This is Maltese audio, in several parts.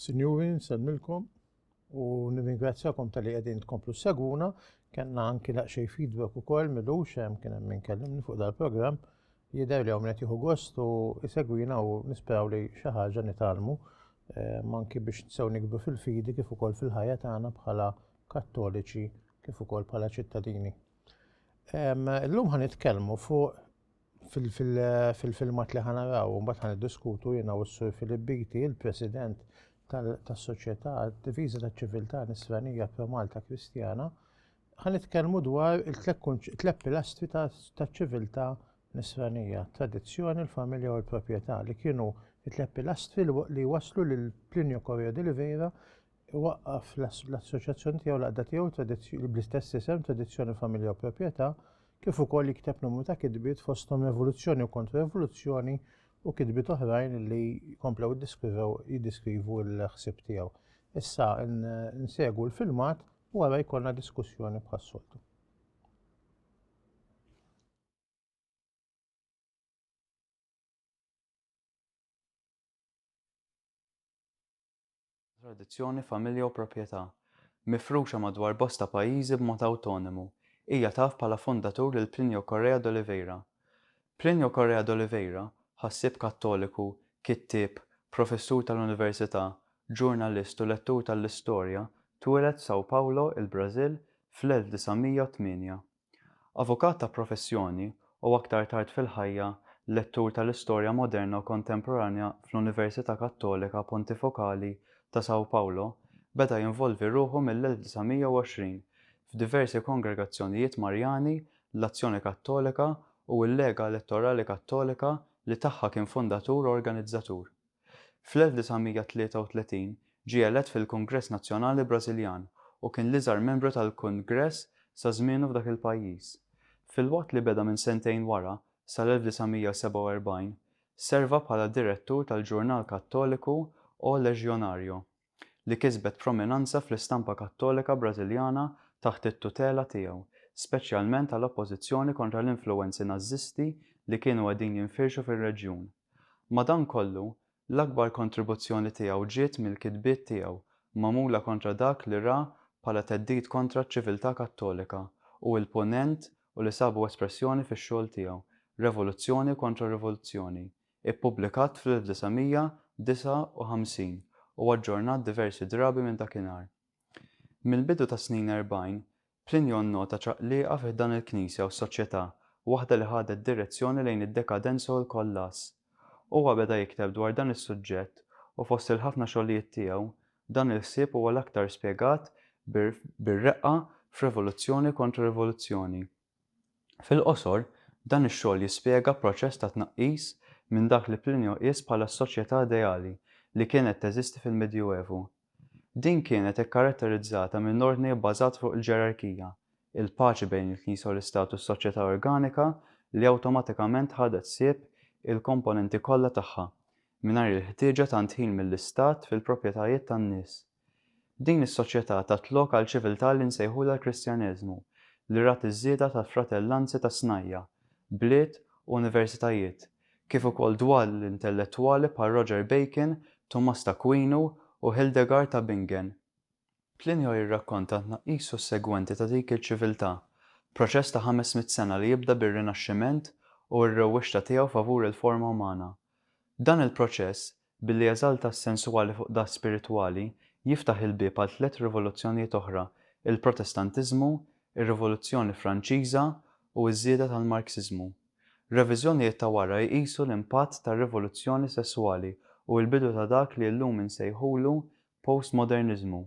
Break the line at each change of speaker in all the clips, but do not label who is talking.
Sinjuri, nsalmilkom u nirringrazzjakom tal-li qegħdin tkomplu seguna, kellna anki laqxej feedback ukoll milux hemm kien hemm minkellimni fuq dal-programm jidher li hawn qed jieħu gost u jsegwina u nisperaw li xi ħaġa nitalmu ehm, anki biex nsew nikbru fil-fidi kif ukoll fil-ħajja tagħna bħala kattoliċi kif ukoll bħala ċittadini. Ehm, illum ħan nitkellmu fuq fil-filmat li ħana raw, un bat ħan diskutu jena u s-sur Filibbiti, il-president tas-soċjetà diviża taċ-ċiviltà nisranija pro Malta Kristjana, Ħa nitkellmu dwar it-tliet pilastri taċ-ċiviltà nisranija, tradizzjoni, l-familja u l-proprjetà li kienu it-tliet pilastri li waslu lil Plinio Correa de Oliveira waqqaf l-assoċjazzjoni tiegħu l-għaqda tiegħu bl-istess isem Tradizzjoni, Familja u Proprjetà kif ukoll jikteb numru ta' kitbiet fosthom Revoluzzjoni u Kontra-Revoluzzjoni u kitbiet oħrajn li komplew jiddeskrivu l-ħsieb tiegħu. Issa nsegu l-filmat Wara jkollna diskussjoni bħas-soltu.
tradizzjoni, familja u proprjetà. Mifruxa madwar bosta pajjiżi b'mod awtonomu, hija taf bħala fondatur lil Plinio Correa d'Oliveira. Plinio Correa d'Oliveira, ħassieb Kattoliku, kittieb, professur tal-università, ġurnalist u lettur tal-istorja, twieled f'São Paulo, il-Brażil, fl-1908. Avukat ta' professjoni u aktar tard fil-ħajja lettur tal-istorja moderna u kontemporanja fl-Università Kattolika Pontifokali ta' São Paulo, beda jinvolvi ruħu mill-1920 f'diversi kongregazzjonijiet Marjani l-Azzjoni Kattolika u l-Lega Elettorali Kattolika li tagħha kien fundatur u organizzatur. Fl-1933 ġie elett fil-Kungress Nazzjonali Brażiljan u kien l-iżgħar membru tal-Kungress sa żmienu f'dak il-pajjiż. Filwaqt li beda minn sentejn wara, sal-1947, serva bħala direttur tal-ġurnal Kattoliku O Legionario. li kisbet prominanza fl-istampa Kattolika Brażiljana taħt it-tutela tiegħu, speċjalment għal oppożizzjoni kontra l-influwenzi Nażisti li kienu qegħdin jinfirxu fir-reġjun. Madankollu, l-akbar kontribuzzjoni tiegħu ġiet mill-kitbiet tiegħu magħmula kontra dak li ra bħala theddid kontra ċ-ċiviltà Kattolika u l-Punent u li sabu espressjoni fix-xogħol tiegħu Revoluzzjoni kontra Rivoluzzjoni, Ippubblikat fl-1959 u aġġornat diversi drabi minn dakinhar. Mill-bidu tas-snin erbgħin, Plinio nnota ċaqliqa fi ħdan il-Knisja u s-soċjetà, waħda li ħadet direzzjoni lejn id-dekadenza u l-kollass. Huwa beda jikteb dwar dan is-suġġett u fost il-ħafna xogħlijiet tiegħu, dan il-ħsieb huwa l-aktar spjegat bir-reqqa f'Revoluzzjoni kontra Rivoluzzjoni. Fil-qosor, dan ix-xogħol jispjega proċess ta' tnaqqis minn dak li Plinio qies bħala s-soċjetà ideali li kienet teżisti fil-Medjuevu. Din kienet ikkaratterizzata minn ordni bbażat fuq il-ġerarkija, il-paċi bejn il-Knisja u l-Istat u s-soċjetà organika li awtomatikament ħadet ħsieb il-komponenti kollha tagħha, mingħajr il-ħtieġa tant ħin mill-Istat fil-proprjetajiet tan-nies. Din is-soċjetà tat lok għal ċiviltà li nsejħulha l-Kristjaneżmu, li rat iż-żieda ta' fratellanzi ta' snajja', bliet u universitajiet, kif ukoll dwal intellettwali bħal Roger Bacon, Tumas t'Akwinu u Hildegard ta' Bingen. Plinio jirrakkonta t-tnaqqis sussegwenti ta' dik il-ċiviltà, proċess ta' ħames mitt sena li jibda bir-Rinaxximent u r-rewwixta tiegħu favur il-forma umana. Dan il-proċess, Billi jeżalta s-sensuali fuq dak spiritwali, jiftaħ il-bieb għal tliet rivoluzzjonijiet oħra, il-Protestantiżmu, ir-Rivoluzzjoni Franċiża, u ż-żieda tal-Marxiżmu. Reviżjonijiet ta' wara jqisu l-impatt tar-rivoluzzjoni sesswali u l-bidu ta' dak li llum insejħulu postmoderniżmu.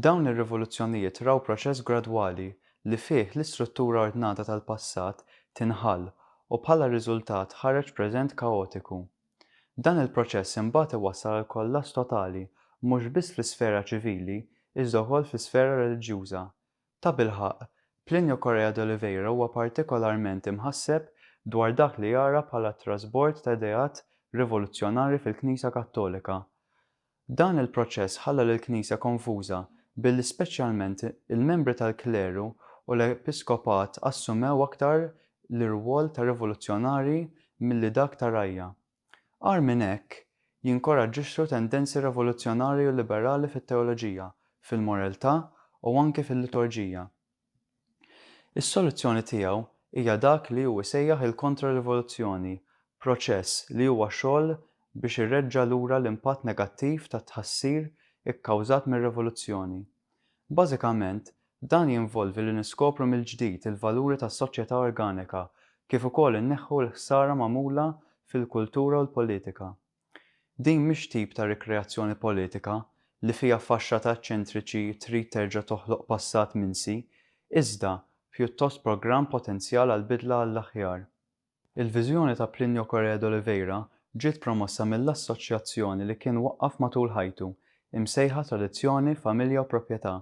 Dawn ir-rivoluzzjonijiet raw proċess gradwali li fih l-istruttura ordnata tal-passat tinħall u bħala riżultat ħareġ preżent kaotiku. Dan il-proċess imbagħad iwassal għal kollass totali mhux biss fl-isfera ċivili iżda wkoll fl-isfera reliġjuża. Tabilħaqq, Plinio Correia d'Oliveira huwa partikolarment imħasseb dwar dak li jara bħala t-trasbord ta' ideat rivoluzzjonari fil-Knisja Kattolika, Dan il-proċess ħalla lill-Knisja konfuża billi speċjalment il-membri tal-kleru u l-episkopat assumew aktar l-irwol ta' rivoluzzjonarji milli dak ta' rgħajja. Agħar minn hekk, jinkoraġġixxu tendenzi rivoluzzjonarji u liberali fit-teoloġija, fil-moreltà u anki fil-liturġija. Is-soluzzjoni tiegħu hija dak li hu jsejjaħ il-kontra-rivoluzzjoni, proċess li huwa xogħol biex ireġġa' lura l-impatt negattiv tat-tħassir ikkawżat mir-rivoluzzjoni. Bażikament, dan jinvolvi li niskopru mill-ġdid il-valuri tas-soċjetà organika kif ukoll inneħħu l-ħsara magħmula fil-kultura u l-politika. Din mhix tip ta' rikreazzjoni politika li fiha faxxata eċċentriċi trid terġa' toħloq passat minsi, iżda pjuttost programm potenzjal għal bidla għall-aħjar. Il-viżjoni ta' Plinio Correa d'Oliveira ġiet promossa mill-assoċjazzjoni li kien waqqaf matul ħajtu, imsejħa Tradizzjoni, Familja u Proprjetà.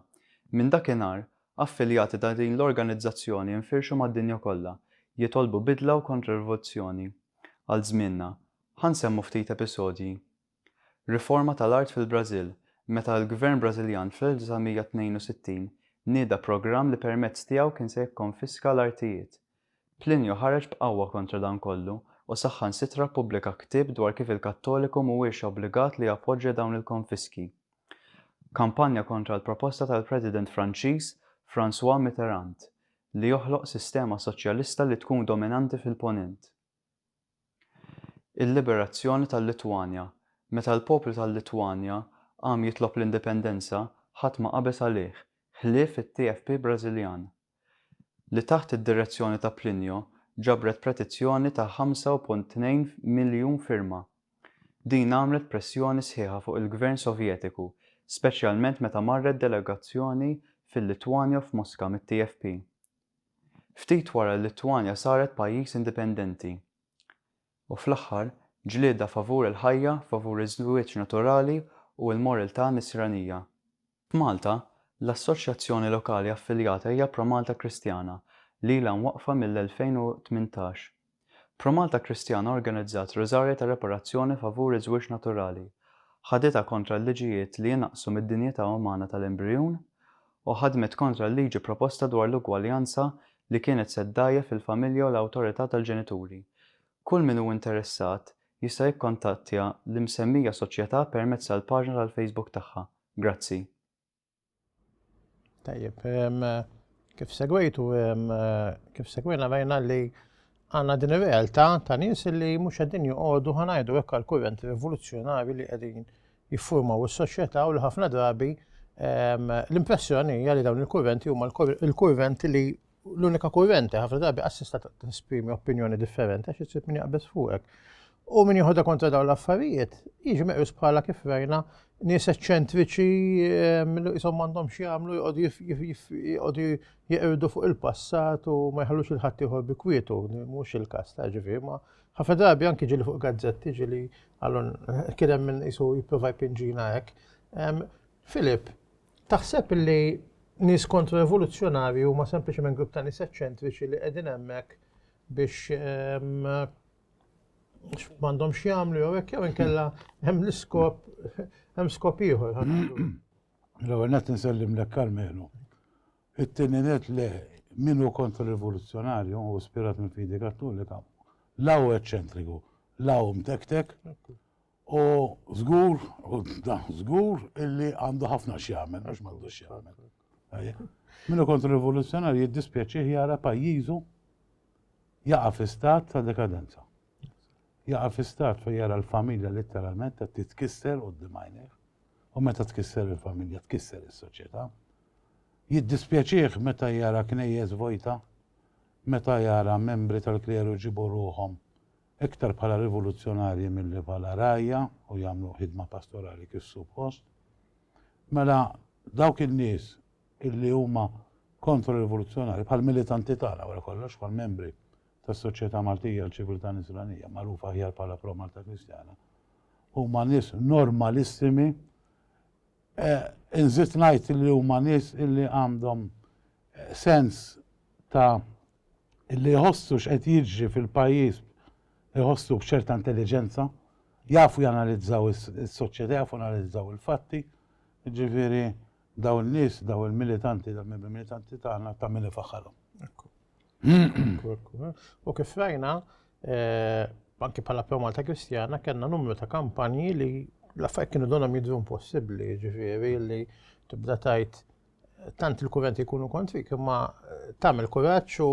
Minn dakinhar, affiljati ta' din l-organizzazzjoni infirxu mad-dinja kollha, jitolbu bidla u kontrarivoluzzjoni għal żmienna, Ħa nsemmu ftit episodji. Riforma tal-art fil-Brażil, meta l-Gvern Brażiljan fl-1962 nieda programm li permezz tiegħu kien se jikkonfiska l-artijiet. Plinju ħareġ b'qawwa kontra dan kollu u saħħansitra ppubblika ktieb dwar kif il-Kattoliku mhuwiex obbligat li jappoġġja dawn il-konfiski. Kampanja kontra l-proposta tal-President Franċiż François Mitterrand li joħloq sistema soċjalista li tkun dominanti fil-Ponent. Il-liberazzjoni tal-Litwanja. Meta l-poplu tal-Litwanja qam jitlob l-indipendenza, ħadd ma qabeż għalih, ħlief it-TFP Brażiljan, li taħt id-direzzjoni ta' Plinio ġabret pretizzjoni ta' 5.2 miljun firma. Din għamlet pressjoni sħiħa fuq il-Gvern Sovjetiku, speċjalment meta marret delegazzjoni fil-Litwanja f'Moska mit-TFP. ftit wara li l-Litwanja saret pajjiż indipendenti, u fl-aħħar, ġlieda favur il-ħajja, favur iż-żwieġ naturali u l-morltà Nisranija. F'Malta, l-assoċjazzjoni lokali affiljata hija Pro Malta Kristjana, li ilha mwaqqfa mill-2018. Pro Malta Kristjana organizzat Rużarja ta' Reparazzjoni favur iż-żwieġ naturali, ħaditha kontra l-liġijiet li inaqqsu mid-dinjità umana tal-embrijun, u ħadmet kontra l-liġi proposta dwar l-ugwaljanza li kienet se ddgħajjef lill-familja u l-awtorità tal-ġenituri. Kull min hu interessat jista' jikkontattja l-imsemmija soċjetà permezz tal-paġna tal-Facebook tagħha. Grazzi.
Tajjeb, kif segwejtu, kif segwejna rajna li għanna din ir-realtà ta' nies li mhux qegħdin joqogħdu ħanajdu hekk għal kurrenti rivoluzzjonari li qegħdin jiffurmaw is-soċjetà u li ħafna drabi ehm, l-impressjoni hija li dawn il-kurrenti huma l-kurrenti li l-unika kurrenti, ħafna drabi assista t-esprimi opinjoni differenti għax jisib min jaqbes fuqek. U min jieħodha kontra dawn l-affarijiet, jiġi meqjus bħala kif rajna nies eċċentriċi ehm, li jisom għandhom xi jagħmlu jqogħdu jeqirdu fuq il-passat u ma jħallux il-ħadd ieħor bi kwietu, mhux il-każ ta' ġifieri ma ħafna drabi anki ġili fuq gazzetti ġili għallun kien hemm min jisu jipprova jpinġina hekk. Ehm, Filip, Taħseb li nies kontro-evoluzzjonarji huma sempliċement grupp ta' nies eċċentriċi li qegħdin hemmhekk biex m'għandhom x'jagħmlu jew hekk jew inkella hemm l-iskop hemm skop ieħor.
L-ewwel qed insellem lek Karmenu. It-tieni net le min hu kontra-rivoluzzjonarju u spirat minn fidi kattolika. Law eċċentriku, law mtektek, U żgur, u dan żgur illi għandu ħafna x'jagħmel, mhux m'għandux x'jagħmel. Minnu kontra rivoluzzjonarju jiddispjaċih jara pajjiżu jaqa' fi stat ta' dekadenza. Jaqa' fi stat fejn jara l-familja letteralment qed titkisser u d U meta tkisser il-familja, tkisser is-soċjetà. Jiddispjaċih meta jara knejjes vojta, meta jara membri tal-kleru ġibu ruhom iktar bħala rivoluzzjonarji milli bħala rgħajja u jagħmlu ħidma pastorali kif suppost, mela dawk in-nies illi huma kontro-rivoluzzjonarji bħal militanti tagħna wara kollox bħal membri tas-Soċjetà Maltija l-Ċiviltà Nisranija magħrufa aħjar bħala Pro Malta Kristjana huma nies normalissimi eh, inżid ngħid li huma nies illi għandhom eh, sens ta' li jħossu x'qed jiġri fil-pajjiż jħossu b'ċerta intelliġenza, jafu janalizzaw is-soċjetà, jafu janalizzaw il-fatti, jiġifieri dawn in-nies, dawn il-militanti, dawn il-membri militanti tagħna ta' min ifaħħarhom. Ekku.
Ekku, ekku. Eh.
U kif rajna, eh,
anki bħala Pro Malta Kristjana, kellna numru ta' kampanji li l-affarijiet kienu donhom jidru impossibbli, ġifieri li tibda tajt tant il-kurrenti jkunu kontrik, imma eh, tagħmel kuraġġ u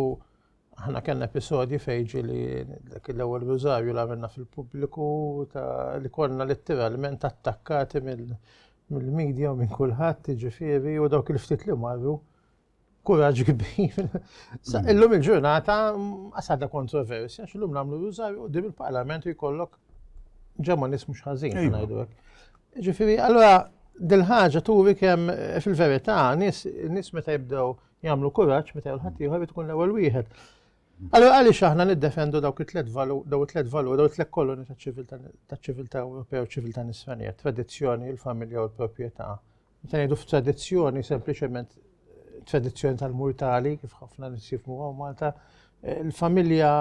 aħna kellna episodji fejġi li dak l-ewwel rużarju li għamilna fil-pubbliku li konna letteralment attakkati mill-medja u minn kulħadd ġifieri u dawk il-ftit li marru kuraġġ kbir. Mm. Illum il-ġurnata għasada mm, kontroversja, xillum namlu rużarju u dim il-parlament jkollok ġemma nismu xħazin, għajdu Ġifieri, allura dil-ħaġa turi kemm eh, fil-verità nies meta jibdew jagħmlu kuraġġ meta jew ħadd ieħor tkun l-ewwel wieħed. Allura għaliex aħna niddefendu dawk it-tliet valur, daw it-tliet valur, daw it-tliet koloni taċ-ċiviltà Ewropea u ċiviltà Nisranija, tradizzjoni, il-familja u l-proprjetà. Meta ngħidu f'tradizzjoni sempliċement eh, tradizzjoni tal-murtali kif ħafna nisifmu għaw Malta, eh, il-familja,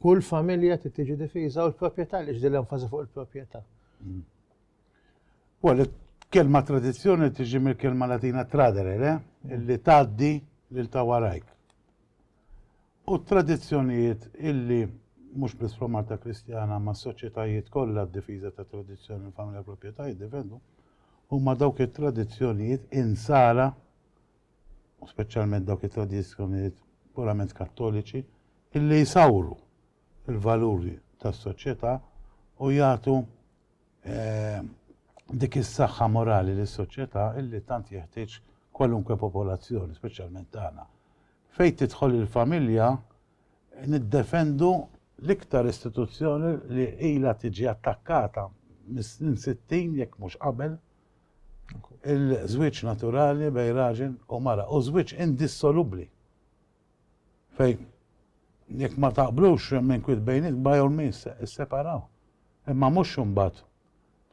kull familja tiġi difiża u l-proprjetà li ġdil enfasi fuq il-proprjetà. Well,
kelma tradizzjoni tiġi mill-kelma Latina tradere, le? Illi tgħaddi lil ta' warajk. U tradizzjonijiet illi mhux biss fl Malta Kristjana ma' soċjetajiet kollha d-difiża ta' tradizzjoni u familja proprjetà jiddefendu huma dawk it-tradizzjonijiet insara u speċjalment dawk it-tradizzjonijiet purament kattoliċi illi jsawru il-valuri tas-soċjetà u jagħtu dik is-saħħa morali lis-soċjetà li tant jeħtieġ kwalunkwe popolazzjoni, speċjalment tagħna. Fejn tidħol il-familja, niddefendu l-iktar istituzzjoni li ilha tiġi attakkata mis-snin 60 jekk mhux qabel, il-żwieġ naturali bejn raġel u mara, u żwieġ indissolubbli. Fejn jekk ma taqblux hemm inkwiet bejnietkom by all means isseparaw. Imma mhux imbagħad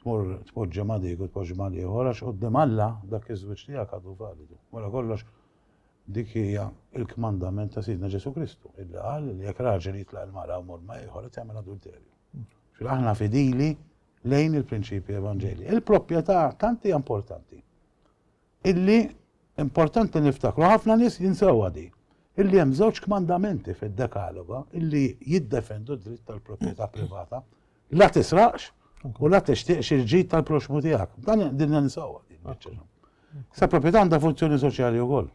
tmur tpoġġi ma' dik u tpoġġi mal-ieħor għax quddiem Alla dak iż-żwieġ tiegħek għadu validu. Wara kollox dik hija l-kmandament ta' Sidna Ġesù Kristu, illi qal li jekk raġel jitlaq il-mara u jmur ma' ieħor qed jagħmel adulterju. Ġifieri aħna fidili lejn il-prinċipji evanġelji. Il-proprjetà tant hija importanti. illi importanti niftakru, ħafna nies jinsewha di, illi hemm żewġ kmandamenti fid-dekaloga illi jiddefendu d-dritt tal-proprjetà privata. La tisraqx u la tixtieqx il-ġid tal-proxmu tiegħek. Dan din ninsewha. Sa proprjetà għandha funzjoni soċjali wkoll.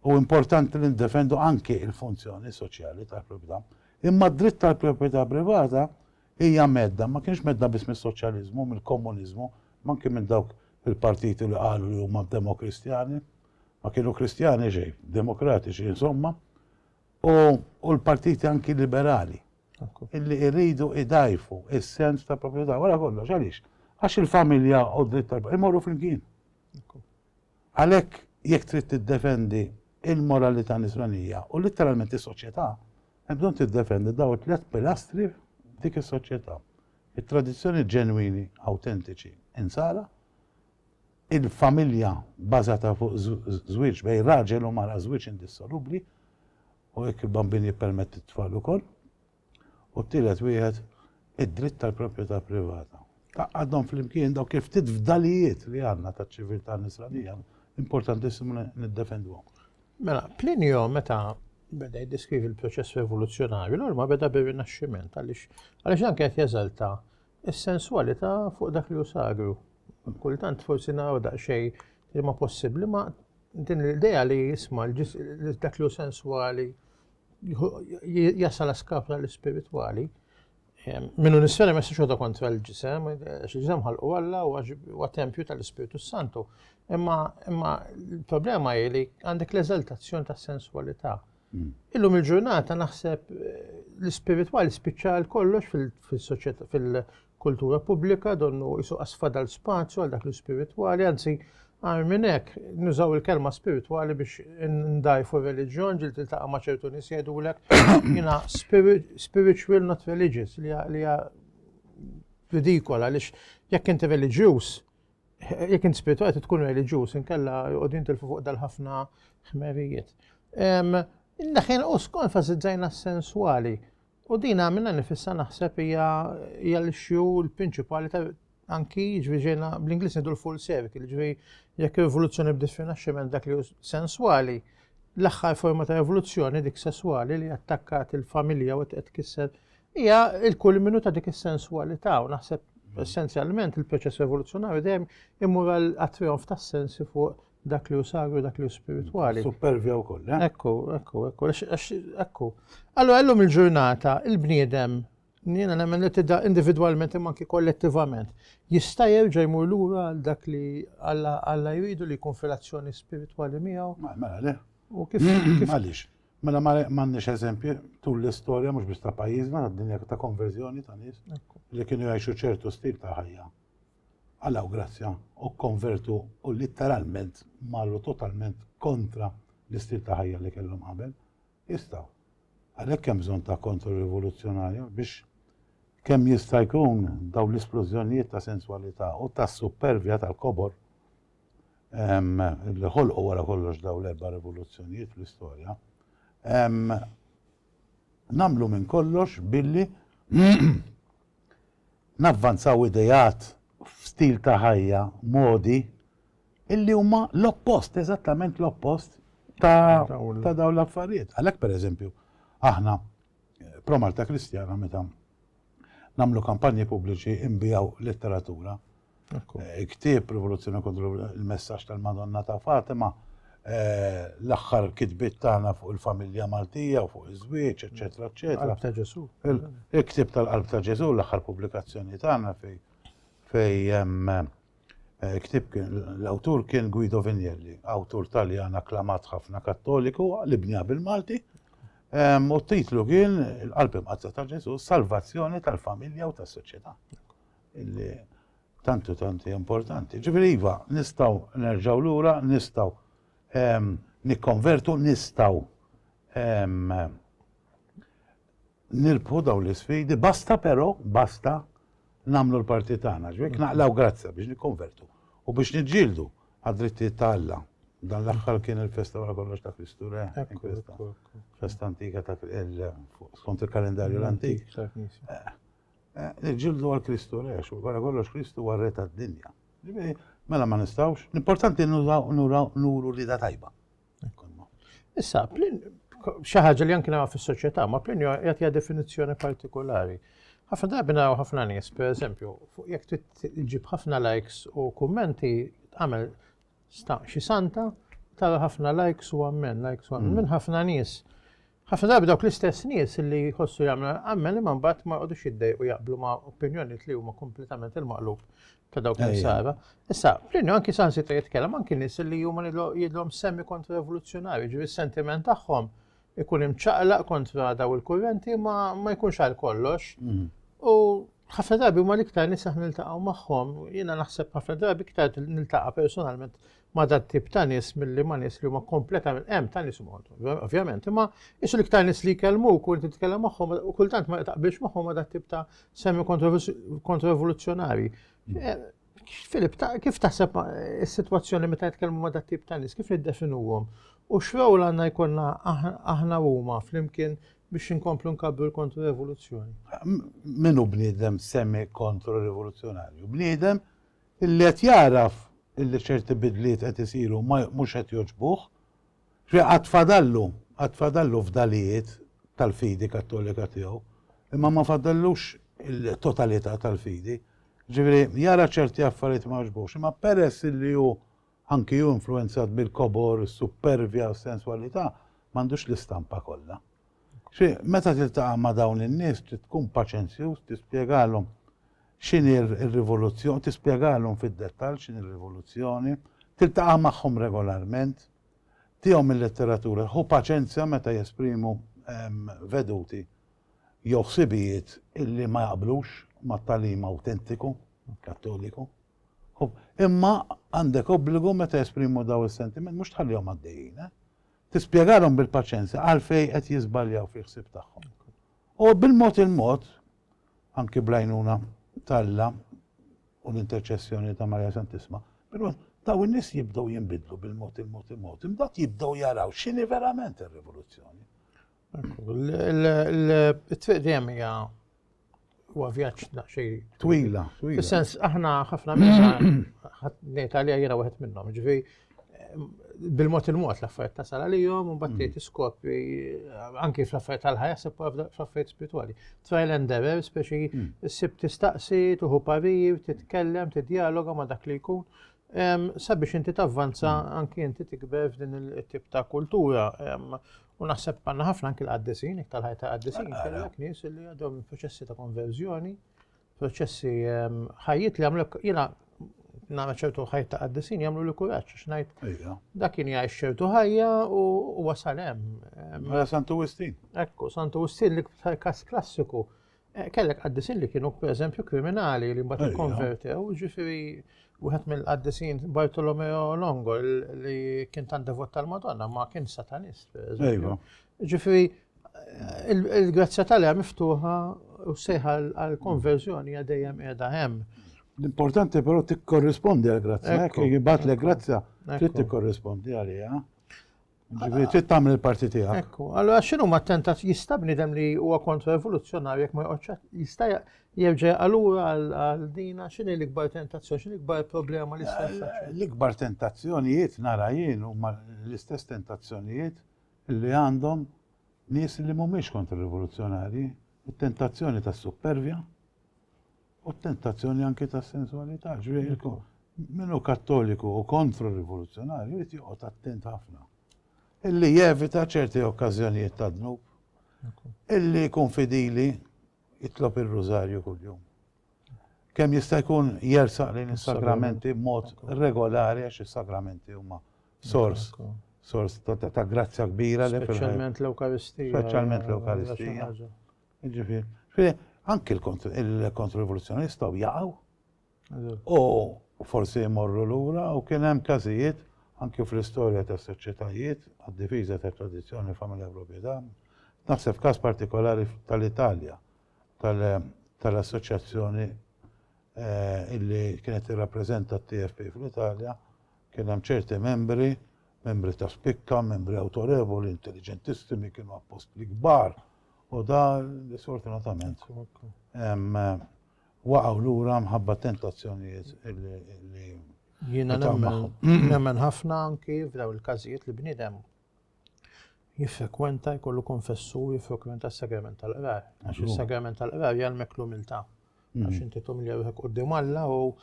u importanti li niddefendu anki l-funzjoni soċjali tal-proprjetà. Imma d-dritt tal-proprjetà privata hija mhedda, ma kinitx mhedda biss mis-soċjaliżmu, mill-komuniżmu, imma anki minn dawk il-partiti li qalu li huma demokristjani. Ma kienu Kristjani xejn, demokratiċi insomma, u l-partiti anki liberali illi jridu idajfu is-sens ta' proprjetà. Wara kollox, għaliex? Għax il-familja u d-dritt tal-proprjetà jmorru flimkien. Għalhekk, jekk trid tiddefendi l-moralità Nisranija u litteralment is-soċjetà, hemm bżonn tiddefendi dawn it-tliet pilastri f'dik is-soċjetà, it-tradizzjoni ġenwini, awtentiċi, Insara, il-familja bbażata fuq żwieġ bejn raġel u mara, żwieġ indissolubbli, u jekk il-bambin jippermetti t-tfal ukoll, U t-tielet wieħed, id-dritt tal-proprjetà privata. Taqgħadhom flimkien dawk il-ftit fdalijiet li għandna taċ-ċiviltà Nisranija, importantissimu li niddefenduhom. Mela, Plinio meta
beda jiddeskrivi l-proċess rivoluzzjonarju, l ma beda bir-Rinaxximent għaliex għaliex dan kienet jeżalta s-sensualità fuq dak li hu sagru. Kultant forsi naraw daqsxejn li ma possibbli ma din l-idea li jisma' dak li hu senswali jasal għaskaf l-ispiritwali, minnu nisfera ma jistax kontra l-ġisem, għax il-ġisem ħalqu għalla u għax tempju tal-Ispiritu Santu. Imma il-problema hi li għandek l-eżaltazzjoni ta' sensualità. Mm. Illum il-ġurnata naħseb eh, l-ispiritwali spiċċa kollox fil-soċjetà, kultura pubblika, donnu qisu qas fadal spazju għal dak l-ispiritwali, anzi agħar minn hekk, nużaw il-kelma spiritwali biex ndgħajfu r-reliġjon, ġieli tiltaqa' ma' ċertu nies jgħidulek jiena spiritual not religious li hija ridikola għaliex jekk inti reliġjuż, jekk inti spiritwali tkun reliġjuż inkella joqogħdin tilfu fuq dal-ħafna ħmerijiet. Daħin u skont fażizzajna s-senswali. U din għamilna nifissa naħseb hija hija l-issue l-prinċipali ta' anki ġifieri ġejna bl-Ingliż ngħidu l-full circle, ġifieri jekk evoluzzjoni bdiet fir-Naxximent dak li senswali, l-aħħar forma ta' evoluzzjoni dik sesswali li attakkat il-familja u qed tkisser hija l-kulminu ta' dik is-senswalità u naħseb essenzjalment il-proċess evoluzzjonarju dejjem imur għat-trijonf tas-sensi fuq dak li hu sagru, dak li hu spiritwali. Supervja wkoll, eh?
Ekku, ekku, ekku,
ekku. Allora llum il-ġurnata il-bniedem jiena nemmen li tidda individwalment imma anki kollettivament jista' jerġa' jmur lura għal dak li Alla jridu li jkun fil-azzjoni spiritwali miegħu. Mela le. U
kif
għaliex?
Mela ma m'għandniex eżempji tul l-istorja mhux biex ta' pajjiżna għad-dinja ta' konverżjoni ta' nies li kienu jgħixu ċertu stil ta' ħajja. Alla u grazzja u kkonvertu u litteralment marru totalment kontra l-istil ta' ħajja li kellhom qabel. Jistgħu. Għalhekk hemm bżonn ta' kontro-rivoluzzjonarja biex kemm jista' jkun dawn l-isplużjonijiet ta' senswalità u ta' suppervja tal-kobor li ħolqu wara kollox dawn l-erba' rivoluzzjonijiet fl-istorja, nagħmlu minn kollox billi navvanzaw ideat f'stil ta' ħajja, modi, illi huma l-oppost, eżattament l-oppost ta' ta' dawn l-affarijiet. Għalhekk pereżempju, aħna Pro Malta Kristjana meta nagħmlu kampanji pubbliċi nbijaw letteratura, Ktieb Rivoluzzjoni kontra il-messaġġ tal-Madonna ta' Fatima, eh, l-aħħar kitbiet tagħna fuq il-familja Maltija u fuq iż-żwieġ, eċetera, eċetera. Qalb ta' Ġesù.
Il-ktieb
tal-Qalb ta' Ġesù, l-aħħar pubblikazzjoni tagħna fej fej eh, ktieb l-awtur kien Guido Vignelli, awtur Taljan akklamat ħafna Kattoliku li bnija bil-Malti. U t-titlu kien il-qalb imqazza ta' Ġesù, salvazzjoni tal-familja u tas-soċjetà. Illi tant u tant hija importanti. Ġifieri iva, nistgħu nerġgħu lura, nistgħu ehm, nikkonvertu, nistgħu ehm, nirbħu daw l-isfidi, basta però, basta namlu l-parti tagħna, ġwek naqlaw grazza biex nikkonvertu u biex niġġieldu għad-drittijiet ta' Alla. Dan l-aħħar kien il-festa wara kollox ta' Kristu Re, festa antika ta' skont il-kalendarju l-antik. Eh, Nġildu għal Kristu rex, u għara kollox Kristu għarre ta' dinja. Mela ma nistawx, l-importanti nuru li da tajba.
Issa, xaħġa li jankina fis soċieta ma plin jgħatja definizjoni partikolari. ħafna drabi naraw ħafna nies, per eżempju, fuq jek tġib ħafna likes u kummenti, għamel xi santa, tara ħafna likes u għammen, likes u għammen, mm. minn ħafna nies. Ħafna drabi dawk l-istess nies li jħossu jagħmlu l-ammel imma mbagħad ma jqogħdux jiddejqu jaqblu ma' opinjonijiet li huma kompletament il-maqlub ta' dawk li sara. Issa, Plinju anki sansita jitkellem anki nies li huma jidhom semmi kontra revoluzzjonarju, ġifieri s-sentiment tagħhom ikun imċaqlaq kontra daw il-kurrenti ma ma jkunx għal kollox. Mhm. U ħafna drabi huma l-iktar nies aħna niltaqgħu magħhom, jiena naħseb ħafna drabi iktar niltaqa' personalment ma' dat tip ta' nies milli ma' nies li huma kompletament hemm ta' nies huma ovvjament, imma isu l-iktar nies li jkellmu u inti titkellem magħhom u kultant ma taqbilx magħhom ma' dat tip ta' semmi kontrovoluzzjonari. Filip, kif taħseb is-sitwazzjoni meta jitkellmu ma' dat tip ta' nies, kif niddefinuhom? U x'rawl għandna jkollna aħna huma flimkien biex inkomplu nkabru l-kontrorevoluzzjoni. Minu
bniedem semmi kontrorevoluzzjonarju? Bniedem Illi qed jagħraf illi ċerti bidliet qed isiru ma mhux qed jogħġbuh. X'fiha għad fadallu, għad fadallu fdalijiet tal-fidi kattolika tiegħu, imma ma fadallux il-totalità tal-fidi. Ġifieri jara ċerti affarijiet ma jogħġbuhx, imma peress illi hu anki hu influwenzat bil-kobor, is-suppervja, s-senswalità, m'għandux l-istampa kollha. Xi meta tiltaqa' ma' dawn in-nies trid tkun paċenzjuż tispjegalhom X'inhi r-rivoluzzjoni? Tispjegalhom fid-dettall x'inhi r-rivoluzzjoni. Tiltaqa' magħhom regolarment. Tihom il-letteratura. Ħu paċenzja meta jesprimu veduti jew ħsibijiet illi ma jaqblux mat-tagħlim awtentiku Kattoliku. Imma għandek obbligu meta jesprimu dawn is-sentimenti mhux tħallihom għaddejjin. Tispjegalhom bil-paċenzja għalfejn qed jiżbaljaw fil-ħsieb tagħhom. U bil-mod il-mod anki bl-għajnuna ta' Alla u l-interċessjoni ta' Marija Santissima, però daw in-nies jibdew jinbidlu bil-mod il-mod il-mod, imbagħad jibdew jaraw x'inhi verament ir-rivoluzzjoni.
Il-triq dejjem hija huwa vjaġġ daqsxejn twila. Fis-sens aħna ħafna minna
ħadd
ngħid għalija jiena wieħed minnhom, ġifieri bil-mod il-mod l-affarijiet tasal għalihom u mbagħad tgħid iskopri anki fl-affarijiet tal-ħajja se fl-affarijiet spirituali. Trial and error speċi hmm. ssib tistaqsi, tuħu parir, titkellem, tidjaloga ma' dak li jkun. Sabiex inti tavvanza hmm. anki inti tikber f'din il-tip ta' kultura. U naħseb għandna ħafna anki l-qaddisin, tal-ħajja ta' qaddisin, kellek nies li għadhom proċessi ta' konverżjoni proċessi ehm, ħajjit li għamlek jina nara ċertu ħajt ta' għaddisin jamlu li kuraċ, xnajt. Dak kien jgħix ċertu ħajja u wasal hemm. Mela Santu
Wistin. Ekku, Santu Wistin
li kas klassiku. Eh, kellek għaddisin li kienu per eżempju kriminali li mbagħad konvertew, ġifieri wieħed mill-għaddisin Bartolomeo Longo li kien tan devot tal-Madonna ma kien satanist. Ġifieri Il-grazzja tal hija miftuħa u sejħa għal-konverżjoni hija dejjem qiegħda hemm. L-importanti
però tikkorrispondi għal-grazzja, hekk jibgħat l grazzja trid tikkorrispondi għaliha. Ġifieri trid tagħmel il-parti tiegħek. Ekku, allura x'inhu ma
tentat jista' bniedem li huwa kontra evoluzzjonarju jekk ma joqgħodx jista' jerġa' allura għal dina x'inhi l-ikbar tentazzjoni, x'inhi l-ikbar problema l-istess. L-ikbar tentazzjonijiet
nara jien huma l-istess tentazzjonijiet li għandhom nies li mhumiex kontra-rivoluzzjonarji, it-tentazzjoni tas-suppervja u t-tentazzjoni anki tas-sensualità. Ġifieri min hu Kattoliku u kontra-rivoluzzjonarju jrid joqgħod attent ħafna. Illi jevita ċerti okkażjonijiet ta' dnub. Illi jkun fidili jitlob ir-rużarju kuljum. Kemm jista' jkun jersaq lejn is-sagramenti b'mod regolari għax is-sagramenti huma sors, sors ta' grazzja kbira li
Speċjalment l-Ewkaristija.
Speċjalment l-Ewkaristija. Ġifieri, anki l-kontrorivoluzzjoni jistgħu jaqgħu. U forsi jmorru lura u kien hemm każijiet anki fl-istorja tas soċjetajiet għad-difiża ta' tradizzjoni familja proprjetà. Naħseb każ partikolari tal-Italja tal-assoċjazzjoni eh, illi kienet irrappreżenta t-TFP fl-Italja Kien hemm ċerti membri, membri ta' spikka, membri awtorevoli, intelliġentissimi, kienu appostli kbar, u da sfortunatament waqgħu lura mħabba tentazzjonijiet li Jiena
nemmen ħafna anki f'daw il-każijiet li bniedem jiffrekwenta, jkollu konfessu u jiffrekwenta s-sagrament tal-qrar. Għax il-sagrament tal-qrar jgħalmek l-umiltà. Mm. Għax inti tumli ruħek qoddim Alla u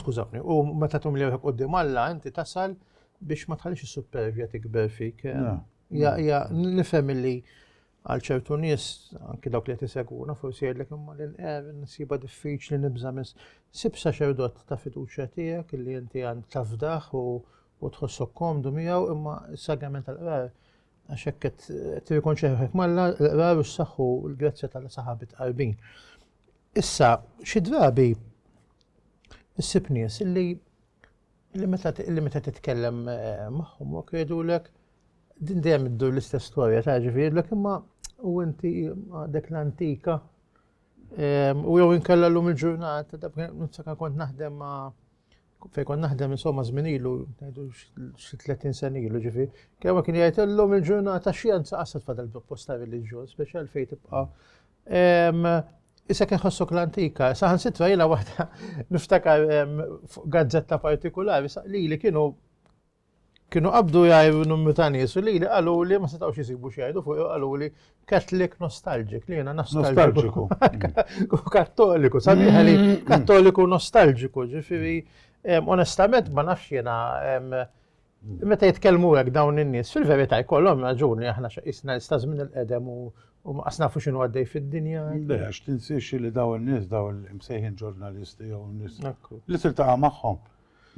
skużawni, u meta tumli ruħek qoddim Alla inti tasal biex ma tħallix is-supervja tikber fik. Eh? Ja, ja, nifhem li għal ċertu nies anki dawk li qed isegwuna forsi jgħidlek imma l inqer nsiba diffiċli nibża' mis sib saċerdot ta' fiduċja tiegħek li inti għand tafdaħ u u tħossok komdu miegħu imma s-sagrament tal-qrar għax hekk qed tirrikonċi ruħek malla l-qrar u s-saħħu l-grazzja tal-saħabit qarbin. Issa, xi drabi issib nies illi li meta li meta titkellem eh, magħhom u kredulek din dejjem iddur l-istess storja ta' ġifieri imma u inti għadek l-antika eh, u jew inkella llum il-ġurnata da' ninsaka kont naħdem ma' Fejn kont naħdem insomma żmien ilu, ngħidu xi 30 sen ilu ġifi, kemm kien jgħid illum il-ġurnata xjenza qasad fadal posta reliġjon, speċjal fejn tibqa' Issa kien ħossok l-antika, saħan sitra jina waħda niftakar gazzetta partikolari, li li kienu Kienu qabdu jgħidu numru ta' nies u lili qaluli ma setgħux isibu x'jgħidu fuq u qaluli Catholic nostalgic li jiena nostalgiku. Kattoliku, sabiħa li mm. kattoliku nostalgiku, ġifieri onestament ma nafx jiena meta jitkellmu hekk dawn in-nies, fil-verità jkollhom raġuni aħna x'qisna nista' żmien il-qedem u ma qasna fuq x'inhu għaddej fid-dinja. Le, għax tinsiex
li dawn in-nies dawn l-imsejħin ġurnalisti jew nies li tiltaqa' magħhom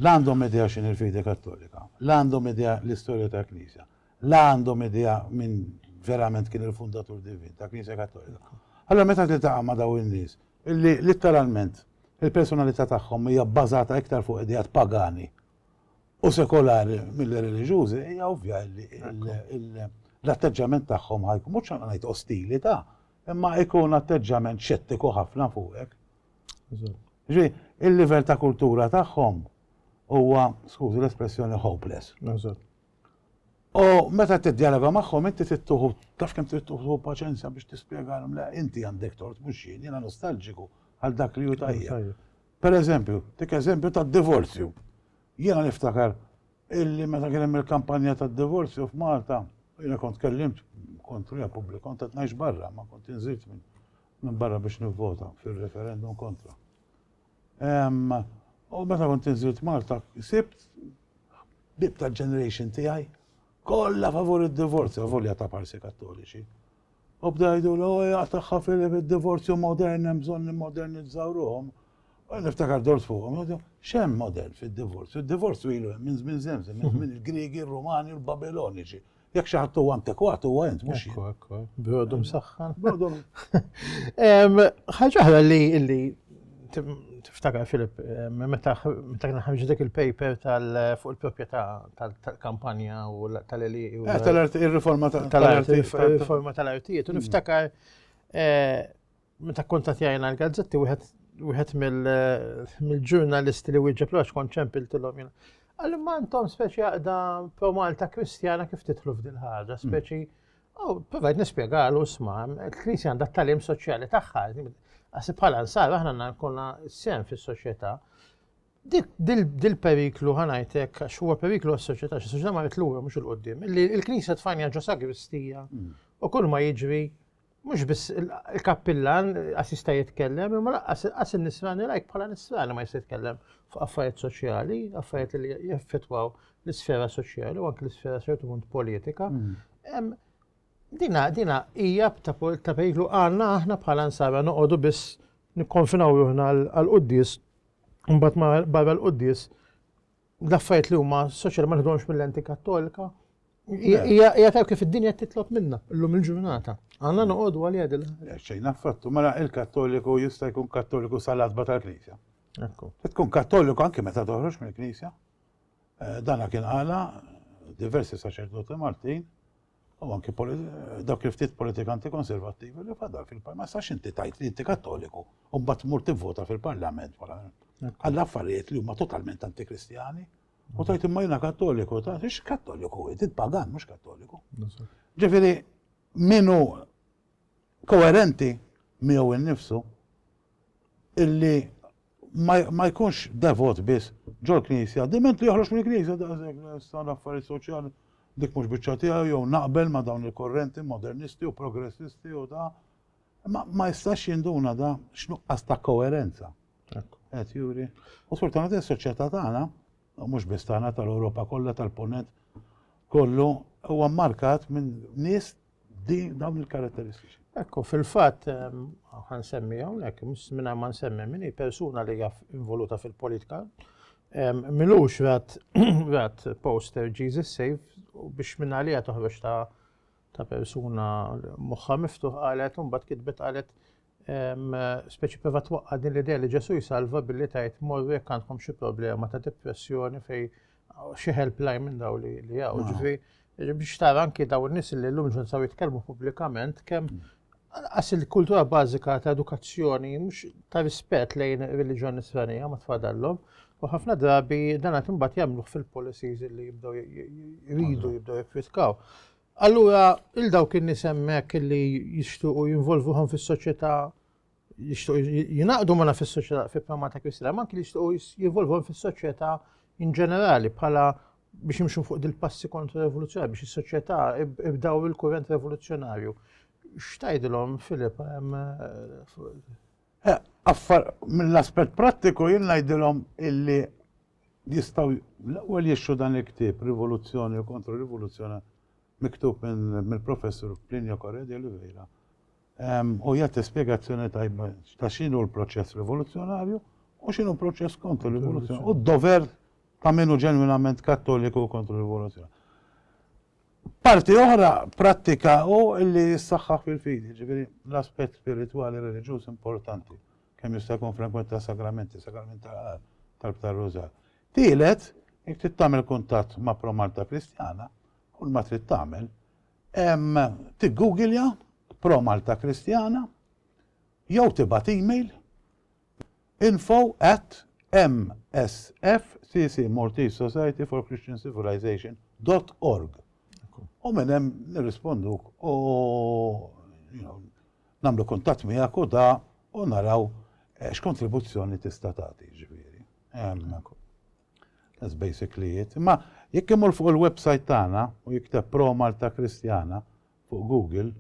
La għandhom idea x'inhi l-fidi Kattolika, la għandhom idea l-istorja tal-Knisja, la għandhom idea min verament kien il-fundatur divin tal-Knisja Kattolika. Allura meta tiltaqa' ma' dawn in-nies li litteralment il-personalità tagħhom hija bbażata iktar fuq ideat pagani u sekolari milli reliġjużi, hija ovvja li l-atteġġjament tagħhom ħa jkun mhux ngħid ostili ta', imma jkun atteġġjament xettiku ħafna fuqek Ġi, il-livell ta' kultura tagħhom huwa, skużi l-espressjoni, hopeless. U meta tiddialoga magħhom inti tittuħu, taf kemm tittuħu paċenzja biex tispjegalhom le inti għandek tort mhux jien, jiena nostalġiku għal dak li hu tajjeb. Per eżempju, dik eżempju tad-divorzju. Jiena niftakar illi meta kien hemm il-kampanja tad-divorzju f'Malta, jiena kont kellimt kontru ja pubbliku, kont qed ngħix barra, ma kont inżilt minn minbarra biex nivvota fir-referendum kontra. U meta kont inżilt Malta, sibt bib tal-ġeneration tiegħi kollha favur id-divorzju, volja ta' parsi kattoliċi. U bdajdu l oja tagħha fil-divorzju modern hemm bżonn nimmodernizzaw ruhom. U niftakar dort fuqhom, xem modern fid-divorzju? Id-divorzju ilu hemm minn żmien żemżem, minn żmien il-Griegi, il-Rumani, il-Babiloniċi. Jekk xi ħadd huwa antikwat huwa int mhux jien. Ekku, brodu msaħħan. Brodu. Ħaġa
oħra li li tiftakar Filip, meta kien ħarġ dik il-paper tal fuq il-proprjetà tal-kampanja u tal-eli. Eh, tal-arti, il-riforma
tal-arti. Il-riforma
tal-artijiet, u mm. niftakar eh, Meta kkuntattjajna l-gazzetti wieħed wieħed mill-ġurnalisti li wieġeb l kont ċempiltilhom jiena. Għalli ma intom speċi għaqda pro Malta Kristjana kif titlu f'dil ħaġa, hmm. speċi. Oh, provajt nispjegalu sma, il-Knisja għandha t-talim soċjali tagħha, għasib bħala nsar aħna nkonna sem fis-soċjetà. Dil-periklu ħanajtek, għax huwa periklu għas-soċjetà, xi soċjetà ma jitlura mhux il-qoddim, il-Knisja tfajnja ġo sagristija hmm. u kull ma jiġri Mhux biss il-kappillan għas jista' jitkellem, imma laqqas qas in-nisrani lajk bħala nisrani ma jista' jitkellem f'affarijiet soċjali, affarijiet li jaffettwaw l-isfera soċjali u anke l-isfera ċertu punt politika. Mm. Dina, dina hija ta' periklu għandna aħna bħala nsara noqogħdu biss nikkonfinaw ruħna għal-quddis, mbagħad barra l-quddis L-affarijiet li huma soċjali ma nħdhomx mill-lenti kattolika. Hija tajb kif id-dinja titlob minna llum il-ġurnata. Għandna noqogħdu għalija dil. Xejn affattu, mela
il-Kattoliku jista' jkun Kattoliku sal-adba tal-Knisja. Ekku. Tkun Kattoliku anke meta toħroġ mill-Knisja. Eh, dana kien għala diversi saċerdoti Maltin u anki dawk il-ftit politikanti konservattivi li fadal fil-parlament. Sax inti tajt li inti kattoliku u mbagħad tmur tivvota fil-parlament wara għall affarijiet li huma totalment antikristjani. U tajt imma jiena kattoliku, ta' ix kattoliku, inti pagan mhux kattoliku. Ġifieri minu koerenti miegħu innifsu illi ma jkunx devot biss ġol-Knisja, diment li joħroġ mill-Knisja daqshekk issa l-affarijiet soċjali dik mhux biċċa tiegħu jew naqbel ma' dawn il-korrenti modernisti u progressisti u da. Ma, ma jistax jinduna da x'nuqqas ta' koerenza. Qed juri. U sfortunatament is-soċjetà tagħna, mhux biss tagħna tal-Ewropa kollha tal-Punent kollu huwa mmarkat minn nies Din dawn il-karatteristiċi. Ekku, fil-fatt,
għan semmi hawnhekk, minna ma nsemmi minni persuna li jaff involuta fil-politika, milux rat rat poster Jesus Save u biex minna li toħroġ ta' ta' persuna moħħa miftuħ qalet un bat kitbet qalet speċi prova twaqqa din l-idea li Ġesu jsalva billi tajt morru jekk għandkom xi problema ta' depressjoni fej xi helpline minn daw li għaw. Ġifi, biex tara anki daw n-nis li l-lum ġun saw jitkellmu publikament kemm għas il-kultura bażika ta' edukazzjoni mhux ta' rispett lejn reliġjon nisranija ma tfadallhom u ħafna drabi dan qed imbagħad jagħmluh fil-policies li jibdew jridu jibdew jiffitkaw. Allura, 'il dawk in-nies hemmhekk li jixtuqu jinvolvuhom fis-soċjetà jixtuqu jingħaqdu magħna fis-soċjetà fi prama ta' Kristi, ma anki li jixtuqu jinvolvuhom fis-soċjetà in ġenerali bħala biex imxu fuq dil-passi kontra rivoluzzjoni biex is-soċjetà ibdaw il-kurrent rivoluzzjonarju. X'tajdilhom Filip
Affar mill-aspett prattiku jien ngħidilhom illi jistgħu l-ewwel jixtru dan il-ktieb Rivoluzzjoni u Kontra Rivoluzzjoni miktub mill-Professur Plinio Correa de Oliveira u jagħti spjegazzjoni tajba ta' x'inhu l-proċess rivoluzzjonarju u x'inhu proċess kontra rivoluzzjoni u d-dover ta' minnu ġenwinament kattoliku kontra rivoluzzjoni. Parti oħra prattika hu li jissaħħaħ fil-fidi, jiġifieri l-aspett spiritwali reliġjuż importanti, kemm jista' jkun frekwenti tas-sagramenti, sagrament tal-qar, talb tar-rużar. Tielet, jekk trid tagħmel kuntatt ma' Pro Malta Kristjana, kull ma trid tagħmel, tiggugilja Pro Malta Kristjana jew tibgħat email Info at msfcc Maltese Society for Christian Civilization dot org u minn hemm nirrisponduk u nagħmlu kuntatt miegħek u da u naraw eh, x'kontribuzzjoni tista' tagħti ġifieri. That's basically it. Imma jekk imur fuq il-website tagħna u jikteb Pro Malta Kristjana, fuq Google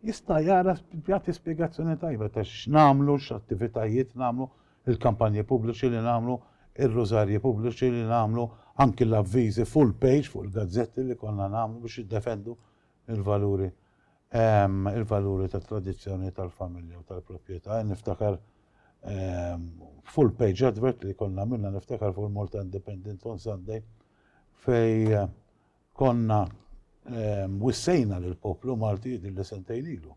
jista' jara jagħti spjegazzjoni tajba ta' x'nagħmlu, x'attivitajiet nagħmlu, il-kampanji pubbliċi li nagħmlu, ir-rużarji pubbliċi li nagħmlu, anki l-avviżi full page fuq il-gazzetti li konna nagħmlu biex jiddefendu l-valuri il-valuri tat-tradizzjoni tal-familja u tal-proprjetà. Niftakar full page advert li konna minna niftakar fuq il-Malta Independent on Sunday fej Konna wissejna lill-poplu Malti din li sentejn ilu,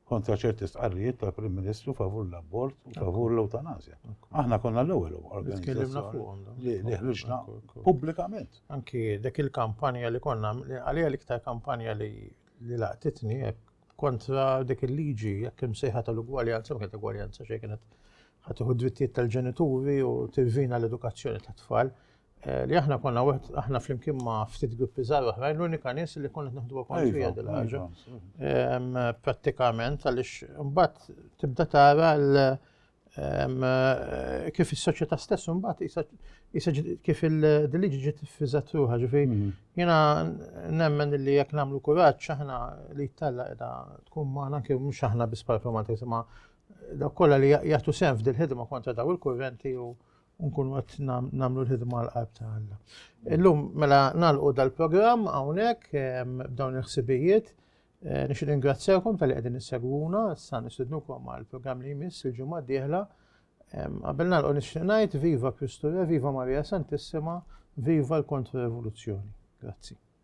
kontra ċerti stqarrijiet tal-Prim Ministru favur l-abort u favur l-ewtanasja. Aħna konna l-ewwel organizzazzjoni li ħriġna pubblikament. Anki dik
il-kampanja li konna, għalija l-iktar kampanja li laqtitni kontra dik il-liġi, jekk imsejħa tal-ugwaljanza, ma kienet ugwaljanza xejn kienet ħatiħu drittijiet tal-ġenituri u tirvina l-edukazzjoni tat-tfal. Eh, li aħna konna wieħed aħna flimkien ma' ftit gruppi żgħar oħrajn l-unika nies li konna naħdu kont fiha dil ħaġa. Prattikament għaliex imbagħad tibda tara l eh, kif is-soċjetà stess imbagħad kif il-diliġi ġiet fiżat ruħha ġifi mhm. jiena nemmen li jekk nagħmlu kuraġġ aħna li jittalla qiegħda tkun magħna anke mhux aħna biss performanti ma' dak kollha li jagħtu sehem f'dil-ħidma kontra daw il-kurrenti u nkunu qed nagħmlu l-ħidma għal qalb ta' Alla. Illum mela nagħlqu dal-programm hawnhekk b'dawn il-ħsibijiet. Eh, nix ringrazzjakom tal-li qegħdin issegwuna, issa nistidnukom għal programm li jmiss il-ġimgħa d-dieħla. Qabel nagħlqu nixtieq ngħid viva Kristu Re, viva Marija Santissima, viva l-Kontra Revoluzzjoni. Grazzi.